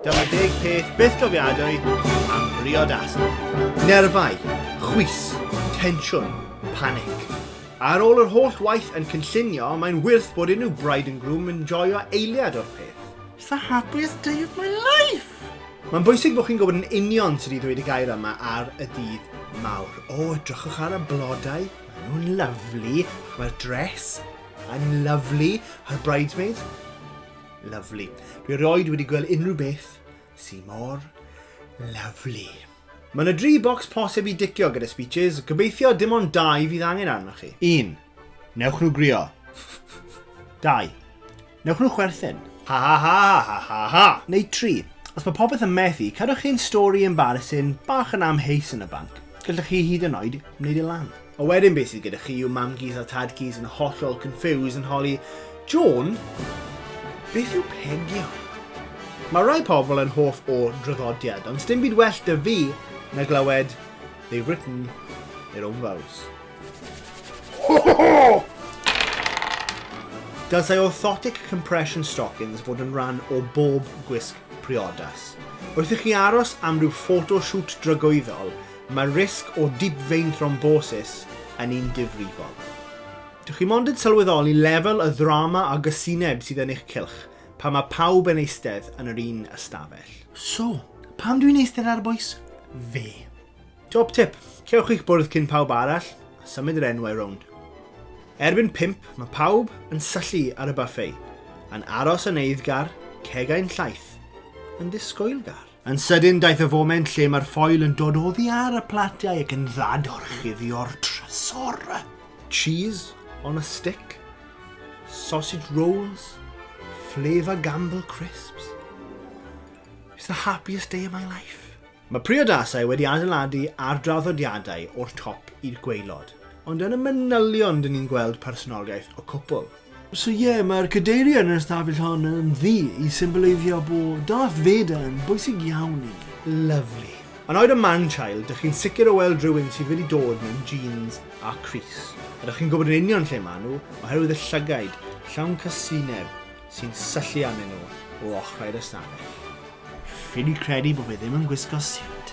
Dyma deg peth byth gofiadwy am briodasau. Nerfau, chwys, tensiwn, panic. Ar ôl yr holl waith yn cynllunio, mae'n wyrth bod unrhyw bride and groom yn joio eiliad o'r peth. It's the happiest day of my life! Mae'n bwysig bod chi'n gwybod yn union sydd wedi dweud y gair yma ar y dydd mawr. O, oh, edrychwch ar y blodau, maen nhw'n lyflu, mae'r dress yn lyflu, a'r bridesmaids, Lovely. Dwi roed wedi gweld unrhyw beth sy'n mor lovely. Mae yna dri bocs posib i dicio gyda speeches, gobeithio dim ond dau fydd angen arnoch chi. 1. Newch nhw grio. 2. Newch nhw chwerthin. Ha ha ha ha ha ha. Neu 3. Os mae popeth yn methu, cadwch chi'n stori embarrassing bach yn amheus yn y banc. Gallwch chi hyd yn oed wneud e lan. A wedyn beth sydd gyda chi yw mam-gus a tad-gus yn hollol confused yn holi, Jôn, beth yw pegio? Mae rhai pobl yn hoff o draddodiad, ond sdim byd well da fi na glywed they've written their own vows. Ho ho ho! Dylsai orthotic compression stockings fod yn rhan o bob gwisg priodas. Wrth i chi aros am rhyw photo shoot dragwyddol, Mae risg o dibfein thrombosis yn un difrifol. Dych chi mond yn sylweddoli lefel y ddrama a gysineb sydd yn eich cylch pan mae pawb yn eistedd yn yr un ystafell. So, pam dwi'n eistedd ar bwys fe? Top tip, cewch eich bwrdd cyn pawb arall a symud yr enwau rownd. Erbyn pump, mae pawb yn syllu ar y buffet, yn aros yn eiddgar, cegau'n llaith, yn disgwyl gar. Yn sydyn daeth y foment lle mae'r ffoil yn dod oddi ar y platiau ac yn ddadorchuddio'r trysor. Cheese on a stick, sausage rolls, flavour gamble crisps. It's the happiest day of my life. Mae priodasau wedi adeiladu ar draddodiadau o'r top i'r gweilod, ond yn y manylion dyn ni'n gweld personoliaeth y cwpl. So ie, yeah, mae'r cadeirio yn yr ystafell hon yn ddi i symboleiddio bod Darth Vader yn bwysig iawn i. Lovely. Yn oed y man-child, dych chi'n sicr o weld rhywun sydd wedi dod mewn jeans a Chris. A dych chi'n gwybod yn union lle maen nhw, oherwydd y llygaid llawn casineb sy'n syllu arnyn nhw o ochrau'r ystafell. Ffili credu bod fe ddim yn gwisgo siwt.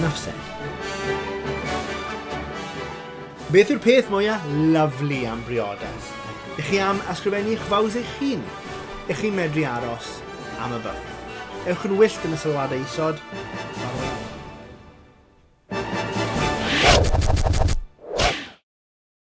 Nafsen. Beth yw'r peth mwyaf lyflu am briodas? Ych chi am ysgrifennu eich faws eich hun? Ych chi'n medru aros am y byth? Ewch yn wyllt yn y sylwadau isod. Farwelwch.